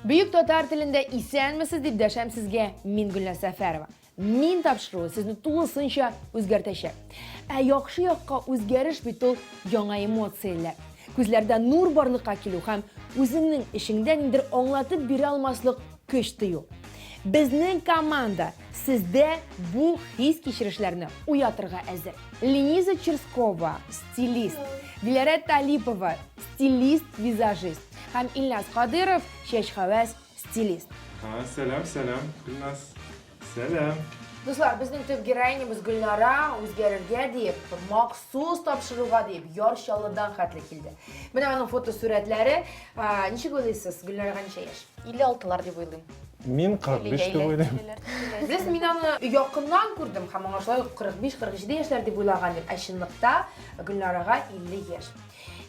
Бөек татар телендә исәнмесез дип дәшәм сезгә мин Гөлназ Сәфәрова. Мин тапшыруы сезне тулысынча үзгәртәчәк. Ә яхшы якка үзгәреш бит ул яңа эмоцияләр. Күзләрдә нур барлыкка килү һәм үзеңнең эшеңдә ниндер аңлатып бирә алмаслык көч тою. Безнең команда сездә бу хис кичерешләрне уятырга әзер. Лениза Черскова, стилист, Диләрә Талипова, стилист, визажист, һәм Илназ Кадыйров, чәчхәвәс стилист. Сәлам, сәлам, Илназ. Сәлам. Дуслар, безнең төп героинябыз Гөлнара үзгәрергә диеп, махсус тапшыруга диеп, Яр Чаллыдан хәтле килде. Менә аның фотосурәтләре. Ничек уйлыйсыз, Гөлнарага ничә яшь? 56-лар дип уйлыйм. Мин 45 дип уйлыйм. Сез мин аны якыннан күрдем һәм аңа шулай ук 45-47 яшьләр дип уйлаган идем, ә чынлыкта Гөлнарага 50 яшь.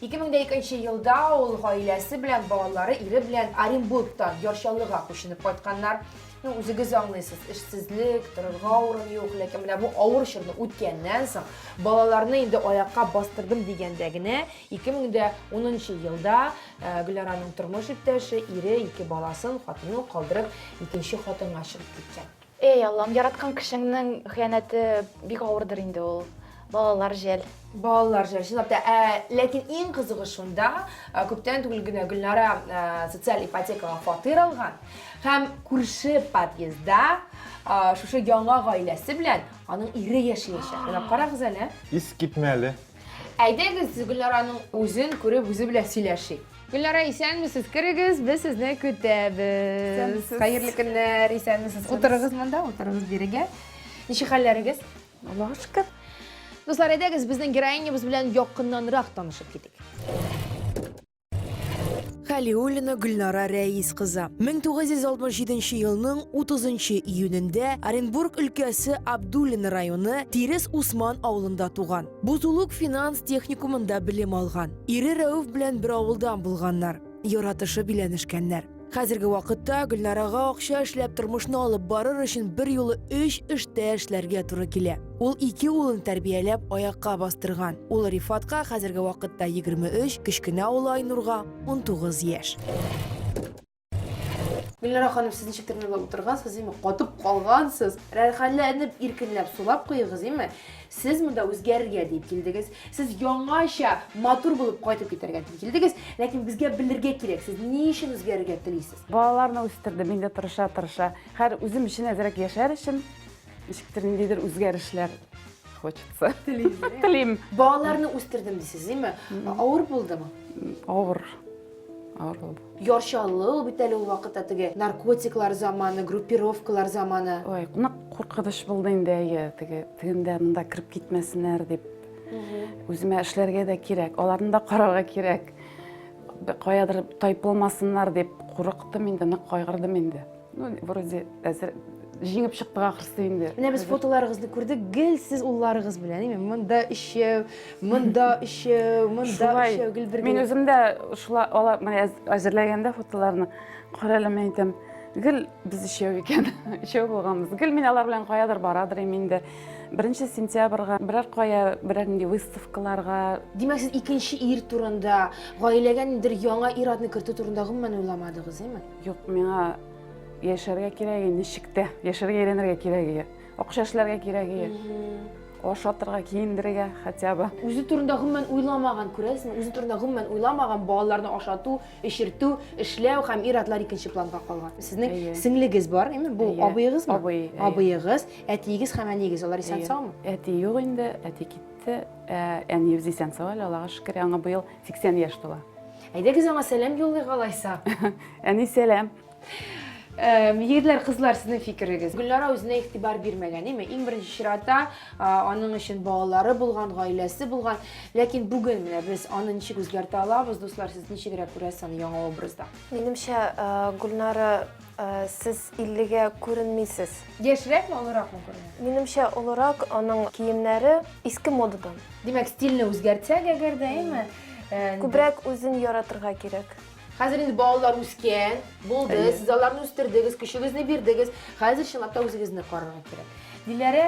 2002 елда ул гаиләсе белән, балалары, ире белән Оренбургтан Яр Чаллыга күченеп кайтканнар. Ну, үзегез аңлыйсыз, эшсезлек, торырга урын юк, ләкин менә бу авыр чорны үткәннән соң, балаларны инде аякка бастырдым дигәндә генә 2010 елда э, Гөлнараның тормыш иптәше, ире, ике баласын, хатынын калдырып, икенче хатынга чыгып киткән. Эй, Аллам, яраткан кешеңнең хыянәте бик авырдыр инде ул. Балалар жәл. Балалар жәл, чынлап та. Ә, ләкин иң кызыгы шунда, ә, күптән түгел генә Гөлнара ә, социаль ипотекага фатир алган һәм күрше подъездда ә, шушы яңа гаиләсе белән аның ире яшәячәк. Менә карагыз әле. Искитмәле. Әйдәгез, Гөлнараның үзен күреп, үзе белән сөйләшик. Гөлнара, исәнмесез, керегез, без сезне көтәбез. Исәнмесез. Хәерле көннәр, исәнмесез. Утырыгыз монда, утырыгыз бирегә. Ничек хәлләрегез? Аллага шөкер. Дуслар, әйдәгез, безнең героинябыз белән якыннанрак танышып китик. Халиуллина Гөлнара Рәис кызы. 1967 елның 30 июнендә Оренбург өлкәсе Абдуллин районы Тирес Усман авылында туган. Бузулук финанс техникумында белем алган. Ире Рәүф белән бер авылдан булганнар. Яратышып өйләнешкәннәр. Хәзерге вакытта Гөлнарага акча эшләп тормышны алып барыр өчен бер юлы өч эштә эшләргә туры килә. Ул ике улын тәрбияләп аякка бастырган. Улы Рифатка хәзерге вакытта 23, кечкенә улы Айнурга 19 яшь. Гөлнара ханым, сез ничектер миңа утыргансыз, име? Катып калгансыз. Рәхәтләнеп, иркенләп сулап куегыз, име? Сез монда үзгәрергә дип килдегез. Сез яңача, матур булып кайтып китәргә дип килдегез. Ләкин безгә белергә кирәк, сез ни өчен үзгәрергә телисез? Балаларны үстердем, инде тырыша-тырыша. Хәзер үзем өчен әзрәк яшәр өчен ничектер ниндидер үзгәрешләр хочется. Телим. Балаларны үстердем дисез, име? Авыр булдымы? Авыр. Авыр булды. Ярчанлы ул бит әле ул вакытта теге наркотиклар заманы, группировкалар заманы. Ой, нык куркыныч булды инде әйе, теге тегендә монда кереп китмәсеннәр дип. Үземә эшләргә дә кирәк, аларны да карарга кирәк. Каядыр тайпылмасыннар дип курыктым инде, нык кайгырдым инде. Ну, вроде әзер җиңеп чыктык ахрысы инде. Менә без фотоларыгызны күрдек, гел сез улларыгыз белән, әйме, монда өчәү, монда өчәү, монда өчәү, гел бергә. Мин үзем дә шулай алар менә әзерләгәндә фотоларны карале мен әйтәм, гел без өчәү икән, өчәү булганбыз. Гел мин алар белән каядыр барадыр инем инде. Беренче сентябрьгә берәр кая, берәр нинди выставкаларга. Димәк, сез икенче ир турында, гаиләгә ниндидер яңа ир-атны кертү турында гомумән уйламадыгыз, әйме? Юк, миңа яшәргә кирәге ничек тә, яшәргә әйләнергә кирәге, акча эшләргә кирәге, ашатырга, киендерергә хотя бы. Үзе турында гомумән уйламаган, күрәсезме? Үзе турында гомумән уйламаган, балаларны ашату, эчертү, эшләү һәм ир-атлар икенче планга калган. Сезнең сеңлегез бар, әйме? Бу абыегызмы? Абый. Абыегыз, әтиегез һәм әниегез, алар исән-саумы? Әти юк инде, әти китте. Ә, әниебез исән-сау әле, Аллага шөкер. Аңа быел 80 яшь тула. Әйдәгез аңа сәлам юллыйк алайса. Әни сәлам. Егетләр, кызлар, сезнең фикерегез. Гөлнара үзенә игътибар бирмәгән, име? Иң беренче чиратта аның өчен балалары булган, гаиләсе булган. Ләкин бүген менә без аны ничек үзгәртә алабыз, дуслар, сез ничегрәк күрәсез аны яңа образда? Минемчә, Гөлнара Сез иллегә күренмисез. Яшьрәкме, олыракмы күренә? Минемчә, олырак, аның киемнәре иске модадан. Димәк, стильне үзгәртсәк әгәр дә, әйме? Күбрәк үзен яратырга кирәк. Хәзер инде балалар үскән, булды, сез аларны үстердегез, көчегезне бирдегез, хәзер чынлап та үзегезне карарга кирәк. Диләрә,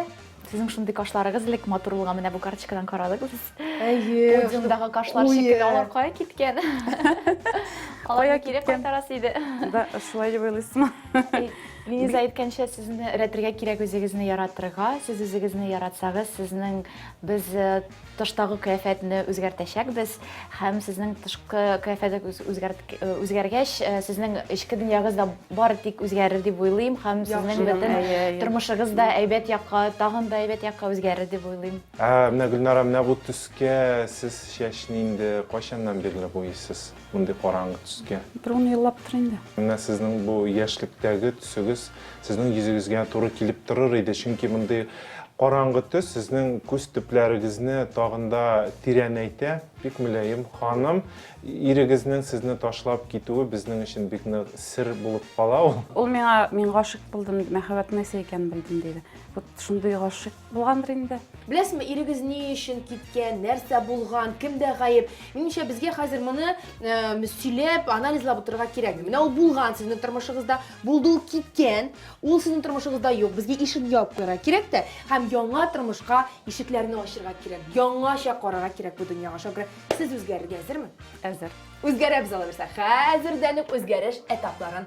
Сезнең шундый кашларыгыз элек матур булган, менә бу карточкадан карадык без. Әйе. Подиумдагы кашлар шикелле, алар кая киткән? Аларны кире кайтарасы иде. Да, шулай дип уйлыйсызмы? Линиза әйткәнчә, сезне рәтергә кирәк үзегезне яратырга. Сез үзегезне яратсагыз, сезнең без э, Тыштагы кыяфәтне үзгәртәчәкбез һәм сезнең тышкы кыяфәтегез үзгәргәч, сезнең эчке дөньягыз да бары тик үзгәрер дип уйлыйм һәм сезнең бөтен тормышыгыз да әйбәт якка, тагын да әйбәт якка үзгәрер дип уйлыйм. Ә менә Гөлнара, менә бу төскә сез чәчне инде кайчаннан бирле буйыйсыз? мондый караңгы төскә? Бер ун еллаптыр инде. Менә сезнең бу яшьлектәге төсегез сезнең йөзегезгә туры килеп торыр иде, чөнки мондый караңгы төс сезнең күз төпләрегезне тагын да тирәнәйтә. Бик мөлаем ханым, ирегезнең сезне ташлап китүе безнең өчен бик нык сер булып кала ул. Ул миңа мин гашык булдым, мәхәббәт нәрсә икәнен белдем, диде. Вот шундый гашык булгандыр инде. Беләсезме, ирегез ни өчен киткән, нәрсә булган, кемдә гаеп? Минемчә, безгә хәзер моны э, сөйләп, анализлап утырырга кирәкми. Менә ул булган сезнең тормышыгызда, булды ул киткән, ул сезнең тормышыгызда юк. Безгә ишек ябып куярга кирәк тә, һәм яңа тормышка ишекләрне ачырга кирәк. Яңача карарга кирәк бу дөньяга. Шакира, сез үзгәрергә әзерме? Әзер. Үзгәрәбез алайса. Хәзердән үк үзгәреш этапларын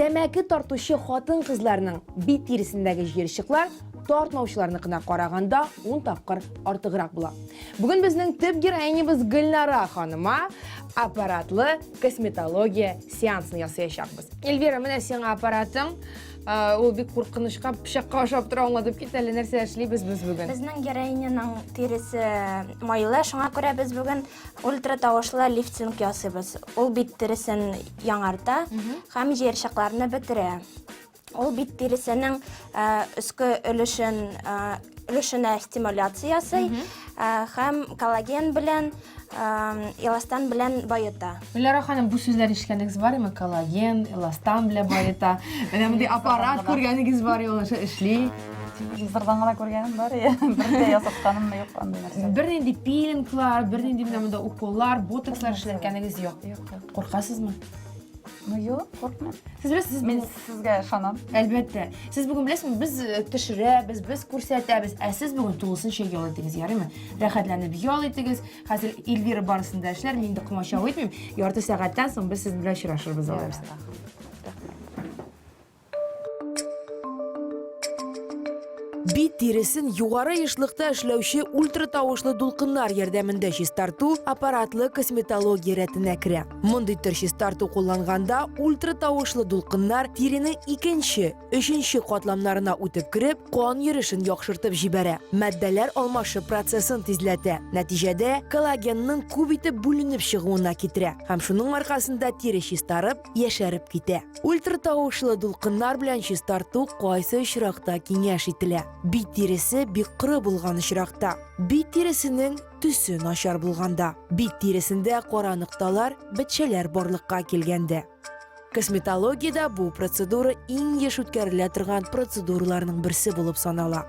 Тәмәке тартучы хатын-кызларның бит тиресендәге җыерчыклар тартмаучыларныкына караганда ун тапкыр артыграк була. Бүген безнең төп героинябыз Гөлнара ханыма аппаратлы косметология сеансын ясаячакбыз. Эльвира, менә сиңа аппаратың. Ул бик куркынычка, пычакка ошап тора, аңладып кит әле нәрсә эшлибез без бүген. Безнең героиняның тиресе майлы, шуңа күрә без бүген Ультратавышлы лифтинг ясыйбыз. Ул бит тиресен яңарта һәм җыерчыкларны бетерә. Ул бит тиресенең өске өлешен өлешенә стимуляция ясый һәм коллаген белән эластан белән баета. Гөлнара ханым, бу сүзләр ишеткәнегез бар ме? Коллаген, эластан белән баета. Менә мондый аппарат күргәнегез бар ул аша эшли. Телевизордан гына күргәнем бар, я. Бер дә ясатканым юк андый нәрсә. Бернинди пилинглар, бернинди менә монда уколлар, ботокслар эшләткәнегез юк. Юк, юк. Куркасызмы? Ну, юк, куркмыйм. Сез беләсез, мин сезгә ышанам. Әлбәттә. Сез бүген беләсезме, без э, төшерәбез, без күрсәтәбез, ә сез бүген тулысынча ял итегез, ярыймы? Рәхәтләнеп ял итегез, Хәзер Эльвира барысын да эшләр, мин дә комачау итмим. Ярты сәгатьтән соң без сезнең белән очрашырбыз алай булса. Бит тиресен югары ешлыкта эшләүче ультратавышлы дулкыннар ярдәмендә чистарту аппаратлы косметология рәтенә керә. Мондый төр чистарту кулланганда ультратавышлы дулкыннар тиренең икенче Өченче катламнарына үтеп кереп, кан йөришен яхшыртып җибәрә. Матдәләр алмашы процессын тизләтә. Нәтиҗәдә коллагенның күп итеп бүленеп чыгуына китерә. Һәм шуның аркасында тире чистарып, яшәреп китә. Ультратавышлы дулкыннар белән чистарту кайсы очракта киңәш ителә? Бит тиресе бик коры булган очракта. Бит тиресенең төсе начар булганда. Бит тиресендә кара нокталар, бетчәләр барлыкка килгәндә. Косметологиядә бу процедура иң еш үткәрелә торган процедураларның берсе булып санала.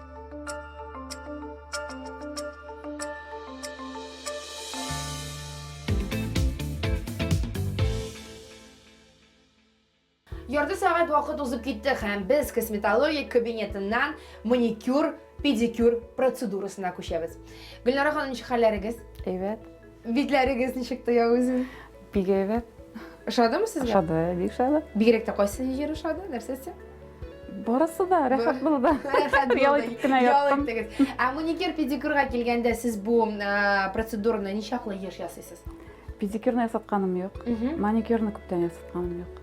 Ярты сәгать вакыт узып китте һәм без косметология кабинетыннан маникюр, педикюр процедурасына күчәбез. Гөлнара ханым, ничек хәлләрегез? Әйбәт. Битләрегез ничек тоя үзен? Бик әйбәт. Ошадымы сезгә? Ошады, бик ошады. Бигрәк тә кайсы җир ошады? Нәрсәсе? Барысы да рәхәт булды. Рәхәт булды. Ял итеп кенә яттым. Ә маникюр педикюрга килгәндә сез бу процедураны ничаклы еш ясыйсыз? Педикюрны ясатканым юк. Маникюрны күптән ясатканым юк.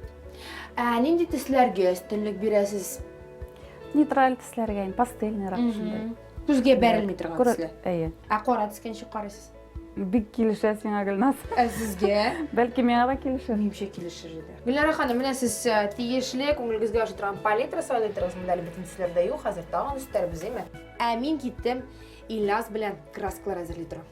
Ә нинди төсләргә өстенлек бирәсез? Нейтраль төсләргә, пастельный рак шундый. Күзгә бәрелми торган төсле. Әйе. Ә кара төскә ничек карыйсыз? Бик килешә сиңа, Гөлназ. Ә сезгә? Бәлки миңа да килешер. Минемчә килешер иде. Гөлнара ханым, менә сез э, тиешле күңелегезгә ошый торган палитра сайлыйдыгыз. Монда әле бөтен төсләр дә юк, хәзер тагын өстәрбез, әйме? Ә мин киттем Ильяс белән краскалар әзерли торам.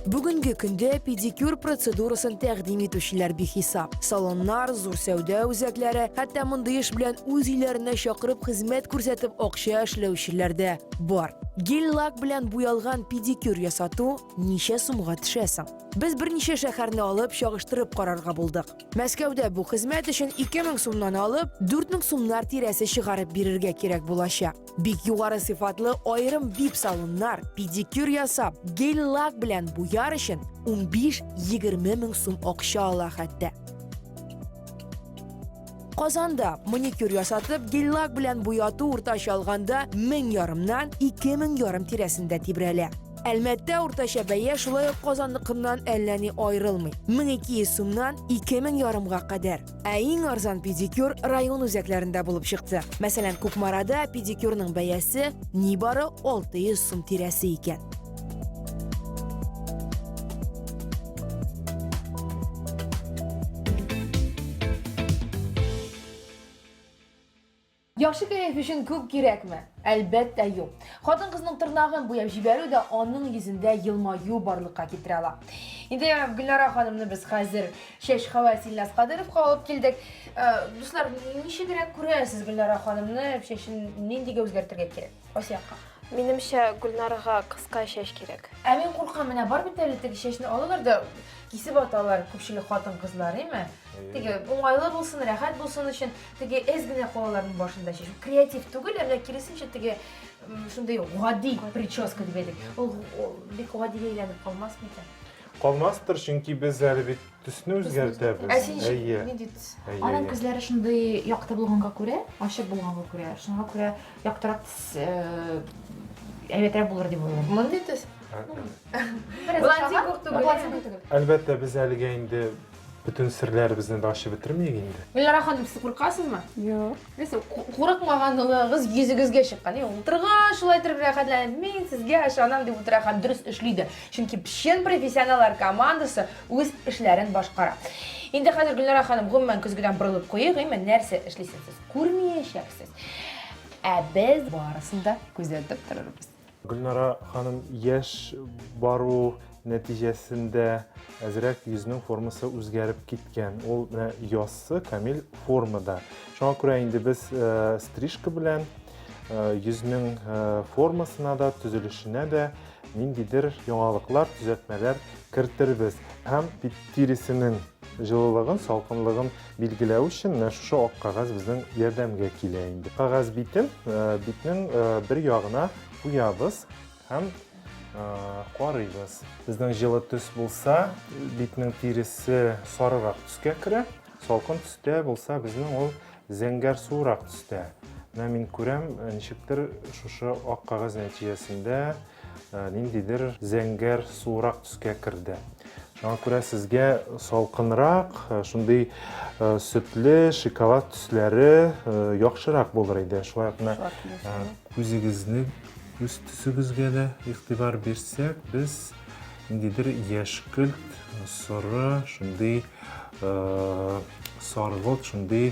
Бүгенге көндә педикюр процедурасын тәкъдим итүчеләр бихисап. Салоннар, зур сәүдә үзәкләре, хәтта мондый эш белән үз өйләренә чакырып хезмәт күрсәтеп акча эшләүчеләр дә бар. Гель-лак белән буялган педикюр ясату ничә сумга төшә соң? Без берничә шәһәрне алып чагыштырып карарга булдык. Мәскәүдә бу хезмәт өчен 2000 сумнан алып, 4000 сумнар тирәсе чыгарып бирергә кирәк булачак. Бик югары сыйфатлы аерым вип салоннар, педикюр ясап, гель-лак белән буяр өчен 15-20 мең сум акча ала хәтта. Казанда маникюр ясатып, гель-лак белән буяту уртача алганда 1000 ярымнан 2000 ярым тирәсендә тибрәлә. Әлмәттә уртача бәя шулай ук Казанныкыннан әллә ни аерылмый. 1200 сумнан 2000 ярымга кадәр. Ә иң арзан педикюр район үзәкләрендә булып чыкты. Мәсәлән, Кукмарада педикюрның бәясе нибары 600 сум тирәсе икән. Яхшы кәеф өчен күп кирәкме? Әлбәттә, юк. Хатын-кызның тырнагын буяп җибәрү дә аның йөзендә елмаю барлыкка китерә ала. Инде Гөлнара ханымны без хәзер чәч хәвәс Илназ Кадыровка алып килдек. Э, дуслар, ничегрәк күрәсез Гөлнара ханымны, чәчен ниндигә үзгәртергә кирәк? Кайсы якка? Минемчә, Гөлнарга кыска чәч кирәк. Ә мин куркам, менә бар бит әле теге чәчне алалар да кисеп аталар күпчелек хатын-кызлар, әйме? Теге уңайлы булсын, рәхәт булсын өчен теге әз генә калаларның башында чәчү. Креатив түгел, әмма киресенчә теге шундый гади прическа дип әйтик. Ул бик гадигә әйләнеп калмас микән? Калмастыр, чөнки без әле бит төсне үзгәртәбез. Ә син нинди төс? Аның күзләре шундый якты булганга күрә, ачык булганга күрә, шуңа күрә яктырак әйбәтрәк булыр дип уйлыйм. Мондый төс? Блондин күк түгел. Әлбәттә, без әлегә инде Бөтен серләребезне дә ачып бетермәйек инде. Гөлнара ханым, сез куркасызмы? Юк. Нәрсә, курыкмаганлыгыгыз йөзегезгә чыккан. Утырга шулай итеп рәхәтләнеп, мин сезгә ышанам дип утыра һәм дөрес эшли дә. Чөнки чын профессионаллар командасы үз эшләрен башкара. Инде хәзер Гөлнара ханым, гомумән көзгедән борылып куйыйк, әйме, нәрсә эшлисез сез? Күрмәячәксез. Ә без барысын да күзәтеп торырбыз. Гөлнара ханым, яшь бару нәтиҗәсендә әзрәк йөзнең формасы үзгәреп киткән. Ул менә яссы, камил формада. Шуңа күрә инде без э, стрижка белән э, йөзнең э, формасына да, төзелешенә дә ниндидер яңалыклар, төзәтмәләр кертербез һәм бит тиресенең җылылыгын, салкынлыгын билгеләү өчен менә шушы ак кәгазь безнең ярдәмгә килә инде. Кәгазь битен битнең бер ягына куябыз һәм карыйбыз. Безнең җылы төс булса, битнең тиресе сарырак төскә керә. Салкын төстә булса, безнең ул зәңгәр суырак төстә. Менә мин күрәм, ничектер шушы ак кәгазь нәтиҗәсендә Ә, ниндидер зәңгәр суырак төскә керде. Шуңа күрә сезгә салкынрак, ә, шундый ә, сөтле, шоколад төсләре ә, яхшырак булыр иде. Шулай ук менә ә, күзегезнең үз төсегезгә дә игътибар бирсәк, без ниндидер яшькелт, соры, шундый ә, саргылт, шундый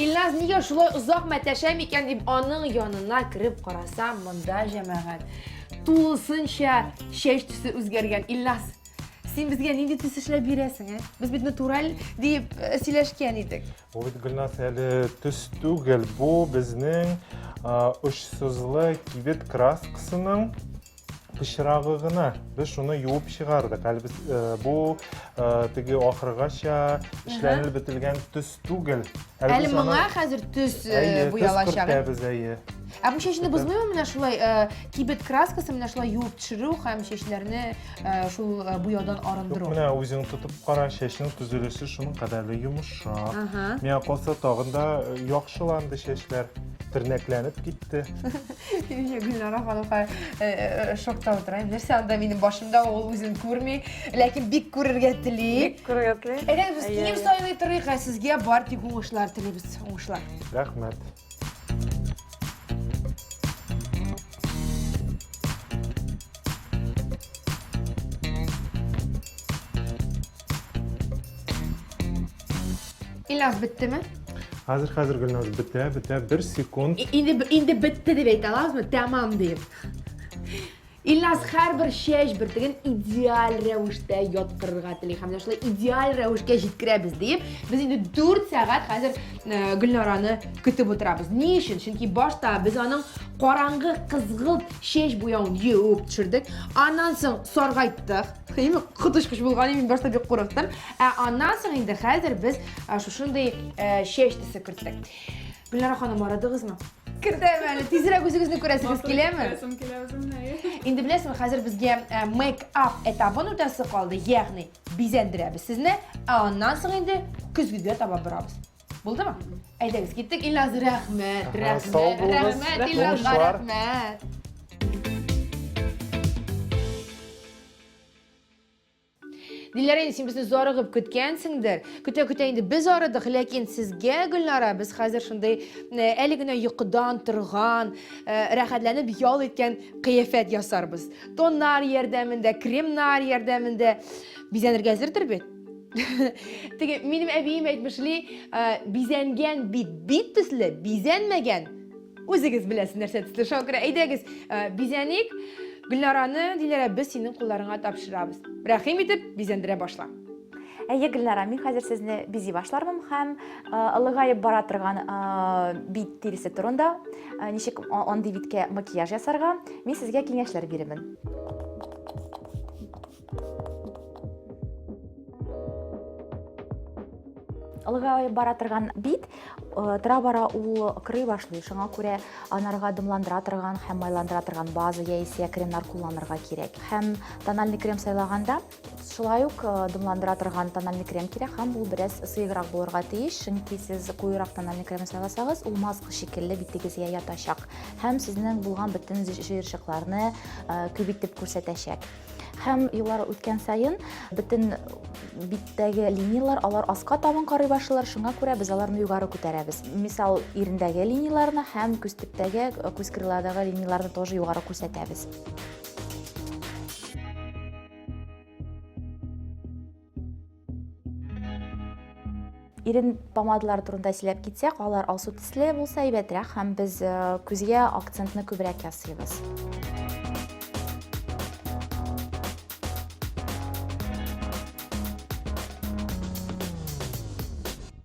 Илназ нигә шулай озак мәтәшә микән дип аның янына кереп карасам, монда җәмәгать тулысынча чәч төсе үзгәргән. Илназ, син безгә нинди төс эшләп бирәсең, ә? Без бит натураль дип э, сөйләшкән идек. Бу бит Гөлназ әле төс түгел, бу безнең очсызлы кибет краскасының пычрагы гына. Без шуны юып чыгардык. Әле без бу теге ахыргача эшләнелеп бетелгән төс түгел. Әле моңа хәзер төс буялачак. Әйе, төс әйе. Ә бу чәчне бозмыймы менә шулай кибет краскасы менә шулай юып төшерү һәм чәчләрне Э, шул э, буяудан арындыру менә үзең тотып кара чәчнең төзелеше шуның кадәрле йомшак миңа калса тагын да э, яхшыланды чәчләр тернәкләнеп китте гөлнара ханымга шокта утыра нәрсә анда минем башымда ул үзен күрми ләкин бик күрергә тели бик күрергә тели әйдәгез без кием сайлый торыйк ә сезгә бар тик уңышлар телибез уңышлар рәхмәт Ильяс биттеме? Хәзер хәзер Гөлназ бетә, бетә, бер секунд. Инде инде бетте дип әйтә алабызмы? Тәмам дип. Ильназ һәрбер чәч бөртеген идеаль рәвештә яткырырга тели һәм менә шулай идеаль рәвешкә җиткерәбез диеп, без инде 4 сәгать хәзер э, Гөлнараны көтеп утырабыз. Ни өчен? Чөнки башта без аның караңгы кызгылт чәч буявын юып төшердек. Аннан соң саргайттык. Хәйме коточкыч булган мин башта бик курыктым. Ә аннан соң инде хәзер без э, шушындый э, чәч төсе керттек. Гөлнара ханым, арадыгызмы? Кертәм әле, тизрәк үзегезне күрәсегез киләме? Күрәсем килә үземне. Инде беләсезме, хәзер безгә э, мейк-ап этабын үтәсе калды, ягъни бизәндерәбез сезне, ә аннан соң инде көзгегә таба барабыз. Булдымы? Әйдәгез, киттек, Илназ, рәхмәт, рәхмәт, рәхмәт, Илназга рәхмәт. Диләрә, син безне зарыгып көткәнсеңдер. Көтә-көтә инде без арыдык, ләкин сезгә, Гөлнара, без хәзер шундый э, әле генә йокыдан торган, э, рәхәтләнеп ял иткән кыяфәт ясарбыз. Тоннар ярдәмендә, кремнар ярдәмендә бизәнергә әзердер бит? Теге минем әбием әйтмешли, э, бизәнгән бит бит төсле, бизәнмәгән Үзегез беләсез нәрсә төсле, шуңа күрә әйдәгез, э, бизәник. Гөлнараны, Диләрә, без синең кулларыңа тапшырабыз. Рәхим итеп, бизәндерә башла. Әйе, Гөлнара, мин хәзер сезне бизи башлармын һәм э, ылыгаеп бара торган э, бит тиресе турында, э, ничек а- андый биткә макияж ясарга, мин сезгә киңәшләр бирермен. Ылгай бара торган бит э, тора-бара ул кырый башлый. Шуңа күрә анарга дымландыра торган һәм майландыра торган база яисә кремнар кулланырга кирәк. Һәм тональный крем сайлаганда шулай ук э, дымландыра торган тональный крем кирәк һәм ул бераз сыеграк булырга тиеш, чөнки сез куерак тональный крем сайласагыз, ул маска шикелле битегезгә ятачак һәм сезнең булган бөтен җыерчыкларны э, күп итеп күрсәтәчәк. Һәм еллар үткән саен бөтен биттәге линиялар алар аска табын карый башлыйлар, шуңа күрә без аларны югары күтәрәбез. Мисал, ирендәге линияларны һәм күз төптәге, э, күз крыладагы линияларны тоже югары күрсәтәбез. ирен помадалары турында сөйләп китсәк алар алсу төсле булса әйбәтрәк һәм без э, күзгә акцентны күбрәк ясыйбыз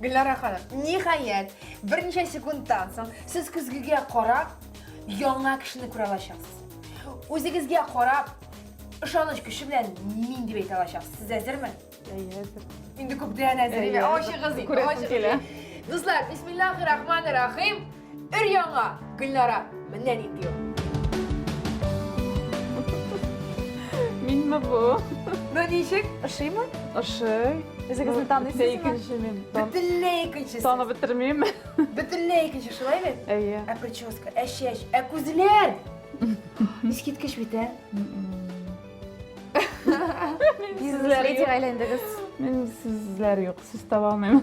Гөлнара ханым, ниһаять, берничә секундтан соң сез көзгегә карап, яңа кешене күрә алачаксыз. Үзегезгә карап, ышаныч көче белән мин дип әйтә алачаксыз. Сез әзерме? Әйе, әзер. Инде күптән әзер. Әйе, Ачыгыз инде, күрәсем ачыгыз. килә. Дуслар, бисмиллахи рахмани рахим. Өр-яңа, Гөлнара, менә нинди ул. Минме бу? Ну ничек, ошыймы? Ошый. Үзегезне таныйсызмы? Икенче мин. Бөтенләй икенче. Танып бетермим. Бөтенләй икенче, шулай бит? Әйе. Ә прическа, ә чәч, ә күзләр! Искиткеч бит, ә? Бизнес-леди әйләндегез. Мин сезләр юк, сүз таба алмыйм.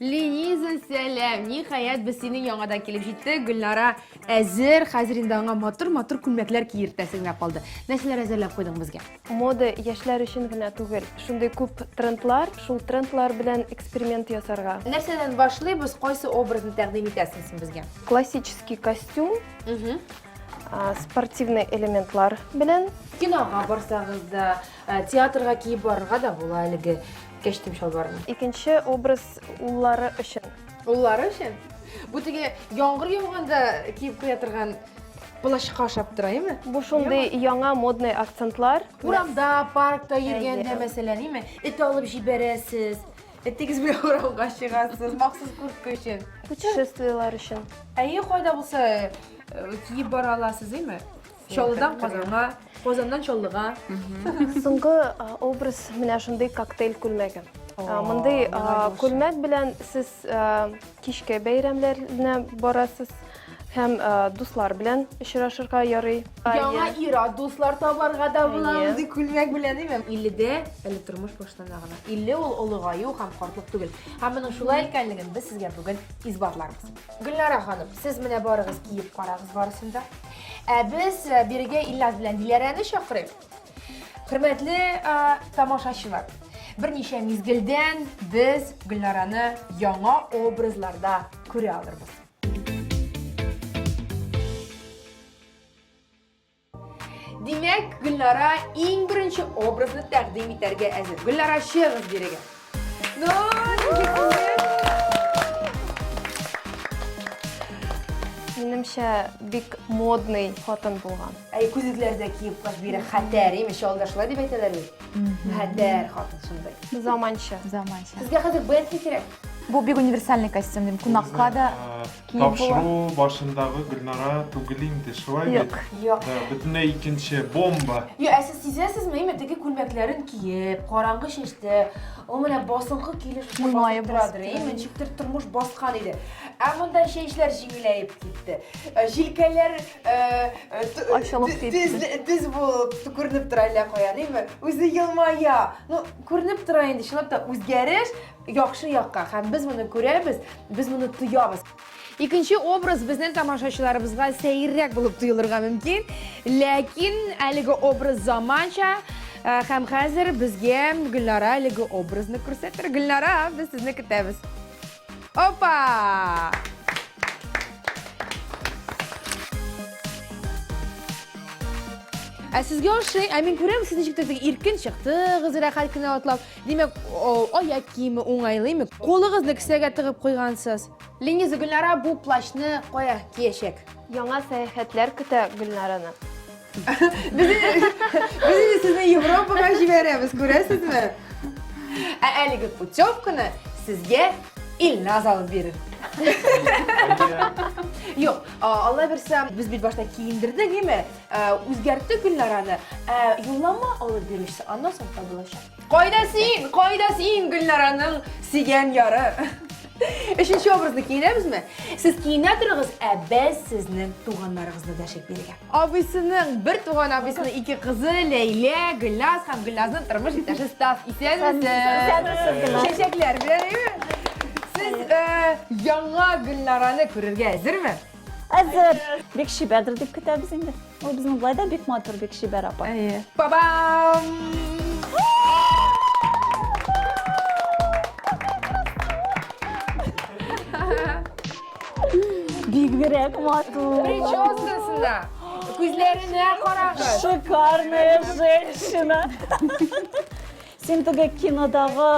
Лениза, сәлам! Ниһаять, без синең яңадан килеп җиттек. Гөлнара әзер, хәзер инде аңа матур-матур күлмәкләр киертәсе генә калды. Нәрсәләр әзерләп куйдың безгә? Мода яшьләр өчен генә түгел. Шундый күп трендлар, шул трендлар белән эксперимент ясарга. Нәрсәдән башлыйбыз, кайсы образны тәкъдим итәсең син безгә? Классический костюм, спортивный элементлар белән. Кинога барсагыз да, Ә, Театрга киеп барырга да була әлеге кәчтүм чалбарны. Икенче образ уллары өчен. Уллары өчен? Бу теге яңгыр яуганда киеп куя торган плащка ошап тора, име? Бу шундый яңа модный акцентлар. Урамда, паркта йөргәндә, Әйе. мәсәлән, име? Эт алып җибәрәсез. Этегез белән урамга чыгасыз, махсус куртка өчен. Путешествиеләр өчен. Әйе, кайда булса э, киеп бара аласыз, име? Чаллыдан Казанга, Казаннан Чаллыга. Соңгы а, образ менә шундый коктейль күлмәге. А, О, Мондый а, миңа булсын. күлмәк белән сез а, кичке бәйрәмнәренә барасыз һәм а, дуслар белән очрашырга ярый. Яңа Әйе. ира дуслар табарга да була Әйе. мондый күлмәк белән, димем. 50-дә әле тормыш башлана гына. 50 ул олыгаю һәм картлык түгел. Һәм моның шулай икәнлеген без сезгә бүген исбатларбыз. Гөлнара ханым, сез менә барыгыз киеп карагыз барысын да. Ә без э, бирегә Ильназ белән Диләрәне чакырыйк. Хөрмәтле э, тамашачылар, берничә мизгелдән без Гөлнараны яңа образларда күрә алырбыз. Димәк, Гөлнара иң беренче образны тәкъдим итәргә әзер. Гөлнара, чыгыз бирегә. Минемчә бик модный хатын булган. Әй, күзекләр дә киеп каш бирә. Хәтәр, имеш, алдашла дип әйтәләр бит. Хәтәр хатын шундый. Заманча. Заманча. Сезгә хәзер Бентли кирәк. Бу бик универсальный костюм, дим, кунакка да. Э, Тапшыру башындагы Гөлнара түгел инде, шулай бит? Юк. Юк. Бөтенләй икенче, бомба. Юк, ә сез сизәсезме, әйме, теге күлмәкләрен киеп, караңгы чәчтә, ул менә басынкы килеш басып торадыр, әйме, ничектер тормыш баскан иде. Ә монда чәчләр җиңеләеп китте. Э, җилкәләр э, э, ачылып китте. Тез булып күренеп тора әллә каян, әйме, үзе елмая. Ну, күренеп тора инде, чынлап та үзгәреш. Яхшы якка, һәм без моны күрәбез, без моны тоябыз. Икенче образ безнең тамашачыларыбызга сәеррәк булып тоелырга мөмкин, ләкин әлеге образ заманча э, һәм хәзер безгә Гөлнара әлеге образны күрсәтер. Гөлнара, без сезне көтәбез. Опа! Ә сезгә ошый, ә мин күрәм, сез ничек тә иркен чыктыгыз, рәхәт кенә атлап. Димәк, аяк киеме уңайлымы? Кулыгызны кесәгә тыгып куйгансыз. Лениза Гөлнара бу плащны кая киячәк? Яңа сәяхәтләр көтә Гөлнараны. Без инде сезне Европага җибәрәбез, күрәсезме? Ә әлеге путевканы сезгә Илназ алып бирер. Юк, алла бирсә, без бит башта киендердек, әйме? Ә, үзгәртте Гөлнараны. Ә, юллама алып бирүчесе аннан соң табылачак. Кайда син? Кайда син Гөлнараның сөйгән яры? Өченче образны киенәбезме? Сез киенә торыгыз, ә без сезнең туганнарыгызны дәшеп бирергә. Абыйсының бер туган абыйсының ике кызы Ләйлә, Гөлназ һәм Гөлназның тормыш иптәше Стас. Исәнмесез. Чәчәкләр белән. Сез э, яңа Гөлнараны күрергә әзерме? әзер бик шибәдер дип көтәбез инде ул безнең былай да бик матур бик шибәр апа әйе бабам бигрәк матур прическасына күзләренә карагыз шикарная женщина син теге кинодагы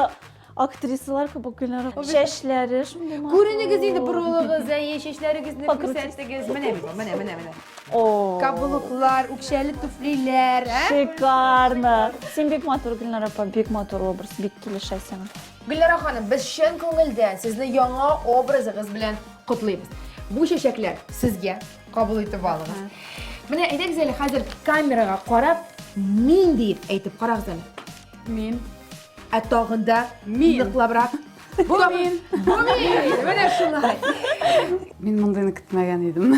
Актрисалар кебекләр. Чәчләре шундый матур. Күренегез инде борылыгыз, әйе, чәчләрегезне күрсәтегез. Менә бит, менә, менә, менә. О. Каблуклар, үкчәле туфлиләр, ә? Шикарно. Син бик матур, Гөлнара апа, бик матур образ, бик килешә сиңа. Гөлнара ханым, без чын күңелдән сезне яңа образыгыз белән котлыйбыз. Бу чәчәкләр сезгә кабул итеп алыгыз. Менә әйдәгез әле хәзер камерага карап, мин диеп әйтеп карагыз әле. Мин. Ә тагын да мин ныклабрак. Бу мин. Бу мин. Менә шулай. Мин мондыйны көтмәгән идем.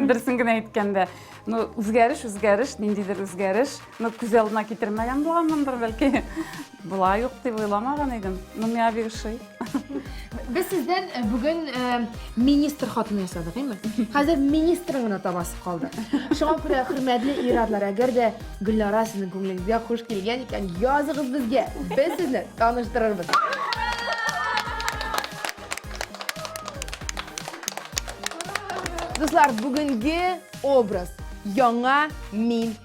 Берсен генә әйткәндә, ну үзгәреш, үзгәреш, ниндидер үзгәреш. Ну күз алдына китермәгән булганмындыр бәлки. Була юк дип уйламаган идем. Ну миңа бик ошый. Без сездән э, бүген э, министр хатыны ясадык, әйме? Хәзер министрың гына табасы калды. Шуңа күрә хөрмәтле ир-атлар, әгәр дә Гөлнара сезнең күңелегезгә хуш килгән икән, языгыз безгә. Без сезне таныштырырбыз. Дуслар, бүгенге образ яңа мин